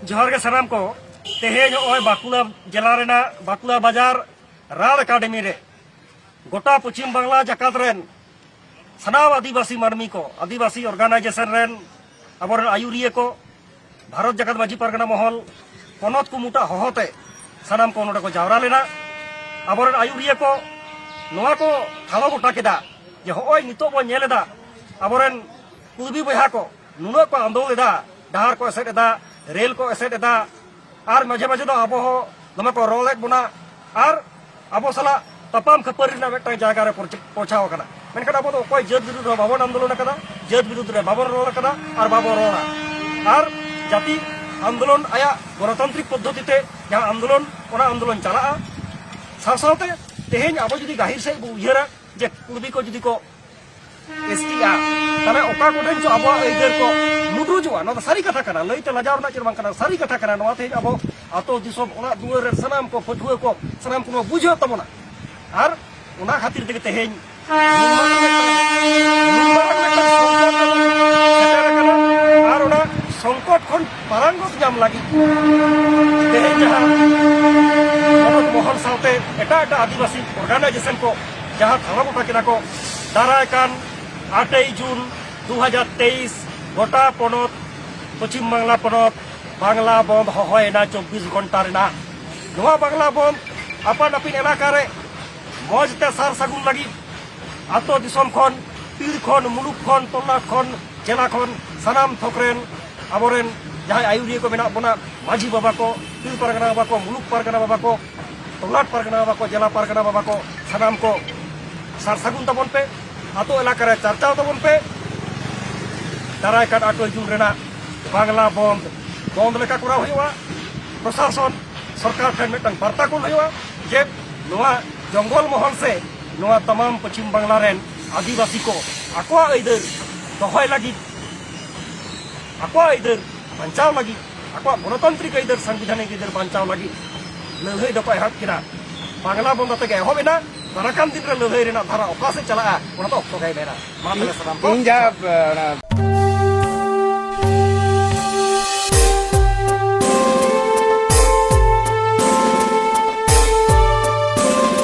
ᱡᱚᱦᱟᱨ ᱜᱮ ᱥᱟᱱᱟᱢ ᱠᱚ ᱛᱮᱦᱮᱧ ᱱᱚᱜᱼᱚᱭ ᱵᱟᱸᱠᱩᱲᱟ ᱡᱮᱞᱟ ᱨᱮᱱᱟᱜ ᱵᱟᱸᱠᱩᱲᱟ ᱵᱟᱡᱟᱨ ᱨᱟᱲ ᱮᱠᱟᱰᱮᱢᱤ ᱨᱮ ᱜᱚᱴᱟ ᱯᱚᱪᱷᱤᱢ ᱵᱟᱝᱞᱟ ᱡᱟᱠᱟᱛ ᱨᱮᱱ ᱥᱟᱱᱟᱢ ᱟᱹᱫᱤᱵᱟᱹᱥᱤ ᱢᱟᱹᱱᱢᱤ ᱠᱚ ᱟᱹᱫᱤᱵᱟᱹᱥᱤ ᱚᱨᱜᱟᱱᱟᱭᱡᱮᱥᱚᱱ ᱨᱮᱱ ᱟᱵᱚᱨᱮᱱ ᱟᱹᱭᱩᱨᱤᱭᱟᱹ ᱠᱚ ᱵᱷᱟᱨᱚᱛ ᱡᱟᱠᱟᱛ ᱢᱟᱹᱡᱷᱤ ᱯᱟᱨᱜᱟᱱᱟ ᱢᱚᱦᱚᱞ ᱯᱚᱱᱚᱛ ᱠᱩᱢᱩᱴᱟ ᱦᱚᱦᱚᱛᱮ ᱥᱟᱱᱟᱢ ᱠᱚ ᱱᱚᱰᱮ ᱠᱚ ᱡᱟᱣᱨᱟ ᱞᱮᱱᱟ ᱟᱵᱚᱨᱮᱱ ᱟᱹᱭᱩᱨᱤᱭᱟᱹ ᱠᱚ ᱱᱚᱣᱟ ᱠᱚ ᱴᱷᱟᱲᱚ ᱜᱚᱴᱟ ᱠᱮᱫᱟ ᱡᱮ ᱦᱚᱸᱜᱼᱚᱭ ᱱᱤᱛᱚᱜ ᱵᱚᱱ ᱧᱮᱞ ᱮᱫᱟ ᱟᱵᱚᱨᱮᱱ ᱠᱩᱲᱵᱤ ᱵᱚᱭᱦᱟ ᱠᱚ ᱱᱩᱱᱟᱹᱜ ᱠᱚ ᱟᱸᱫᱳᱲ ᱮᱫᱟ ᱰᱟᱦᱟᱨ ᱠᱚ ᱮᱥᱮᱫ ᱮᱫᱟ ᱨᱮᱞ ᱠᱚ ᱮᱥᱮᱫ ᱮᱫᱟ ᱟᱨ ᱢᱟᱡᱷᱮ ᱢᱟᱡᱷᱮ ᱫᱚ ᱟᱵᱚ ᱦᱚᱸ ᱫᱚᱢᱮ ᱠᱚ ᱨᱚᱲᱮᱫ ᱵᱚᱱᱟ ᱟᱨ ᱟᱵᱚ ᱥᱟᱞᱟᱜ ᱛᱟᱯᱟᱢ ᱠᱷᱟᱹᱯᱟᱹᱨᱤ ᱨᱮᱱᱟᱜ ᱢᱤᱫᱴᱟᱝ ᱡᱟᱭᱜᱟ ᱨᱮ ᱯᱳᱪᱷᱟᱣ ᱟᱠᱟᱱᱟ ᱢᱮᱱᱠᱷᱟᱱ ᱟᱵᱚ ᱫᱚ ᱚᱠᱚᱭ ᱡᱟᱹᱛ ᱵᱤᱨᱩᱫᱽ ᱨᱮ ᱵᱟᱵᱚᱱ ᱟᱱᱫᱳᱞᱚᱱ ᱟᱠᱟᱫᱟ ᱡᱟᱹᱛ ᱵᱤᱨᱩᱫᱽ ᱨᱮ ᱵᱟᱵᱚᱱ ᱨᱚᱲ ᱟᱠᱟᱫᱟ ᱟᱨ ᱵᱟᱵᱚᱱ ᱨᱚᱲᱟ ᱟᱨ ᱡᱟᱹᱛᱤ ᱟᱱᱫᱳᱞᱚᱱ ᱟᱭᱟᱜ ᱜᱚᱱᱚᱛᱟᱱᱛᱨᱤᱠ ᱯᱚᱫᱽᱫᱷᱚᱛᱤ ᱛᱮ ᱡᱟᱦᱟᱸ ᱟᱱᱫᱳᱞᱚᱱ ᱚᱱᱟ ᱟᱱᱫᱳᱞᱚᱱ ᱪᱟᱞᱟᱜᱼᱟ ᱥᱟᱶ ᱥᱟᱶᱛᱮ ᱛᱮᱦᱮᱧ ᱟᱵᱚ ᱡᱩᱫᱤ ᱜᱟᱹᱦᱤᱨ ᱥᱮᱫ ᱵᱚ ᱩᱭᱦᱟᱹᱨᱟ ᱡᱮ ᱠᱩᱲᱵᱤ ᱠᱚ ᱡᱩᱫᱤ ᱠᱚ ᱮᱥᱴᱤᱜᱼᱟ ᱛᱟᱦᱚᱞᱮ ᱚᱠᱟ ᱠᱚᱴᱷᱮᱱ ᱪᱚ ᱟᱵᱚᱣᱟᱜ ᱟᱹᱭᱫᱟᱹᱨ ᱠᱚ ᱞᱩᱴᱩᱡᱚᱜᱼᱟ ᱱᱚᱣᱟ ᱫᱚ ᱥᱟᱹᱨᱤ ᱠᱟᱛᱷᱟ ᱠᱟᱱᱟ ᱞᱟᱹᱭᱛᱮ ᱞᱟᱡᱟᱣ ᱨᱮᱱᱟᱜ ᱪᱮᱫ ᱵᱟᱝ ᱠᱟᱱᱟ ᱥᱟᱹᱨᱤ ᱠᱟᱛᱷᱟ ᱠᱟᱱᱟ ᱱᱚᱣᱟ ᱛᱮᱦᱮᱧ ᱟᱵᱚ ᱟᱛᱳ ᱫᱤᱥᱚᱢ ᱚᱲᱟᱜ ᱫᱩᱣᱟᱹᱨ ᱨᱮ ᱥᱟᱱᱟᱢ ᱠᱚ ᱯᱟᱹᱴᱷᱩᱣᱟᱹ ᱠᱚ ᱥᱟᱱᱟᱢ ᱠᱚ ᱵᱩᱡᱷᱟᱹᱣ ᱛᱟᱵᱚᱱᱟ ᱟᱨ ᱚᱱᱟ ᱠᱷᱟᱹᱛᱤᱨ ᱛᱮᱜᱮ ᱛᱮᱦᱮᱧ ᱟᱨ ᱚᱱᱟ ᱥᱚᱝᱠᱚᱴ ᱠᱷᱚᱱ ᱯᱟᱨᱟᱝᱜᱚᱛ ᱧᱟᱢ ᱞᱟᱹᱜᱤᱫ ᱛᱮᱦᱮᱧ ᱡᱟᱦᱟᱸ ᱢᱚᱦᱚᱞ ᱥᱟᱶᱛᱮ ᱮᱴᱟᱜ ᱮᱴᱟᱜ ᱟᱹᱫᱤᱵᱟᱹᱥᱤ ᱚᱨᱜᱟᱱᱟᱭᱡᱮᱥᱚᱱ ᱠᱚ ᱡᱟᱦᱟᱸ ᱫᱷᱚᱨᱚᱢ ᱜᱚᱴᱟ ᱠᱮᱫᱟ ᱠᱚ ᱫᱟᱨᱟᱭ ᱠᱟᱱ ᱟᱴᱮᱭ ᱡᱩᱱ ᱫᱩ ᱦᱟᱡᱟᱨ ᱛᱮᱭᱤᱥ ᱜᱚᱴᱟ ᱯᱚᱱᱚᱛ ᱯᱚᱪᱷᱤᱢ ᱵᱟᱝᱞᱟ ᱯᱚᱱᱚᱛ ᱵᱟᱝᱞᱟ ᱵᱚᱱᱫ ᱦᱚᱦᱚᱭᱮᱱᱟ ᱪᱚᱵᱽᱵᱤᱥ ᱜᱷᱚᱱᱴᱟ ᱨᱮᱱᱟᱜ ᱱᱚᱣᱟ ᱵᱟᱝᱞᱟ ᱵᱚᱱᱫ ᱟᱯᱟᱱ ᱟᱹᱯᱤᱱ ᱮᱞᱟᱠᱟ ᱨᱮ ᱢᱚᱡᱽ ᱛᱮ ᱥᱟᱨ ᱥᱟᱹᱜᱩᱱ ᱞᱟᱹᱜᱤᱫ ᱟᱛᱳ ᱫᱤᱥᱚᱢ ᱠᱷᱚᱱ ᱯᱤᱲ ᱠᱷᱚᱱ ᱢᱩᱞᱩᱠ ᱠᱷᱚᱱ ᱛᱚᱞᱟᱴ ᱠᱷᱚᱱ ᱡᱮᱞᱟ ᱠᱷᱚᱱ ᱥᱟᱱᱟᱢ ᱛᱷᱚᱠ ᱨᱮᱱ ᱟᱵᱚᱨᱮᱱ ᱡᱟᱦᱟᱸᱭ ᱟᱹᱭᱩᱨᱤᱭᱟᱹ ᱠᱚ ᱢᱮᱱᱟᱜ ᱵᱚᱱᱟ ᱢᱟᱹᱡᱷᱤ ᱵᱟᱵᱟ ᱠᱚ ᱯᱤᱲ ᱯᱟᱨᱜᱟᱱᱟ ᱵᱟᱵᱟ ᱠᱚ ᱢᱩᱞᱩᱠ ᱯᱟᱨᱜᱟᱱᱟ ᱵᱟᱵᱟ ᱠᱚ ᱴᱚᱞᱟᱴ ᱯᱟᱨᱜᱟᱱᱟ ᱵᱟᱵᱟ ᱠᱚ ᱡᱮᱞᱟ ᱯᱟᱨᱜᱟᱱᱟ ᱵᱟᱵᱟ ᱠᱚ ᱥᱟᱱᱟᱢ ᱠᱚ ᱥᱟᱨ ᱥᱟᱹᱜᱩᱱ ᱛᱟᱵᱚᱱ ᱯᱮ ᱟᱛᱳ ᱮᱞᱟᱠᱟ ᱨᱮ ᱪᱟᱨᱪᱟᱣ ᱛᱟᱵᱚᱱ ᱯᱮ ᱫᱟᱨᱟᱭ ᱠᱟᱱ ᱟᱴᱚᱭ ᱡᱩᱱ ᱨᱮᱱᱟᱜ ᱵᱟᱝᱞᱟ ᱵᱚᱱᱫ ᱵᱚᱱᱫ ᱞᱮᱠᱟ ᱠᱚᱨᱟᱣ ᱦᱩᱭᱩᱜᱼᱟ ᱯᱨᱚᱥᱟᱥᱚᱱ ᱥᱚᱨᱠᱟᱨ ᱴᱷᱮᱱ ᱢᱤᱫᱴᱟᱝ ᱵᱟᱨᱛᱟ ᱠᱩᱞ ᱦᱩᱭᱩᱜᱼᱟ ᱡᱮ ᱱᱚᱣᱟ ᱡᱚᱝᱜᱚᱞ ᱢᱚᱦᱚᱞ ᱥᱮ ᱱᱚᱣᱟ ᱛᱟᱢᱟᱢ ᱯᱚᱪᱷᱤᱢ ᱵᱟᱝᱞᱟ ᱨᱮᱱ ᱟᱹᱫᱤᱵᱟᱹᱥᱤ ᱠᱚ ᱟᱠᱚᱣᱟᱜ ᱟᱹᱭᱫᱟᱹᱨ ᱫᱚᱦᱚᱭ ᱞᱟᱹᱜᱤᱫ ᱟᱠᱚᱣᱟᱜ ᱟᱹᱭᱫᱟᱹᱨ ᱵᱟᱧᱪᱟᱣ ᱞᱟᱹᱜᱤᱫ ᱟᱠᱚᱣᱟᱜ ᱜᱚᱱᱚᱛᱟᱱᱛᱨᱤᱠ ᱟᱹᱭᱫᱟᱹᱨ ᱥᱟᱝᱵᱤᱫᱷᱟᱱᱤᱠ ᱟᱹᱭᱫᱟᱹᱨ ᱵᱟᱧᱪᱟᱣ ᱞᱟᱹᱜᱤᱫ ᱞᱟᱹᱲᱦᱟᱹᱭ ᱫᱚᱠᱚ ᱮᱦᱚᱵ ᱠᱮᱫᱟ ᱵᱟᱝᱞᱟ ᱵᱚᱱᱫᱚ ᱛᱮᱜᱮ ᱮᱦᱚᱵ ᱮᱱᱟ ᱫᱟᱨᱟᱠᱟᱱ ᱫᱤᱱ ᱨᱮ ᱞᱟᱹᱲᱦᱟᱹᱭ ᱨᱮᱱᱟᱜ ᱫᱷᱟᱨᱟ ᱚᱠᱟ ᱥᱮᱫ ᱪᱟᱞᱟᱜᱼᱟ ᱚᱱᱟ ᱫᱚ ᱚᱠᱛᱚ ᱜᱮᱭ ᱢᱮᱱᱟ ᱢᱟ ᱛᱚᱵᱮ ᱥᱟᱱᱟᱢ ᱠᱚ ᱤᱧ ᱡᱟᱦᱟᱸ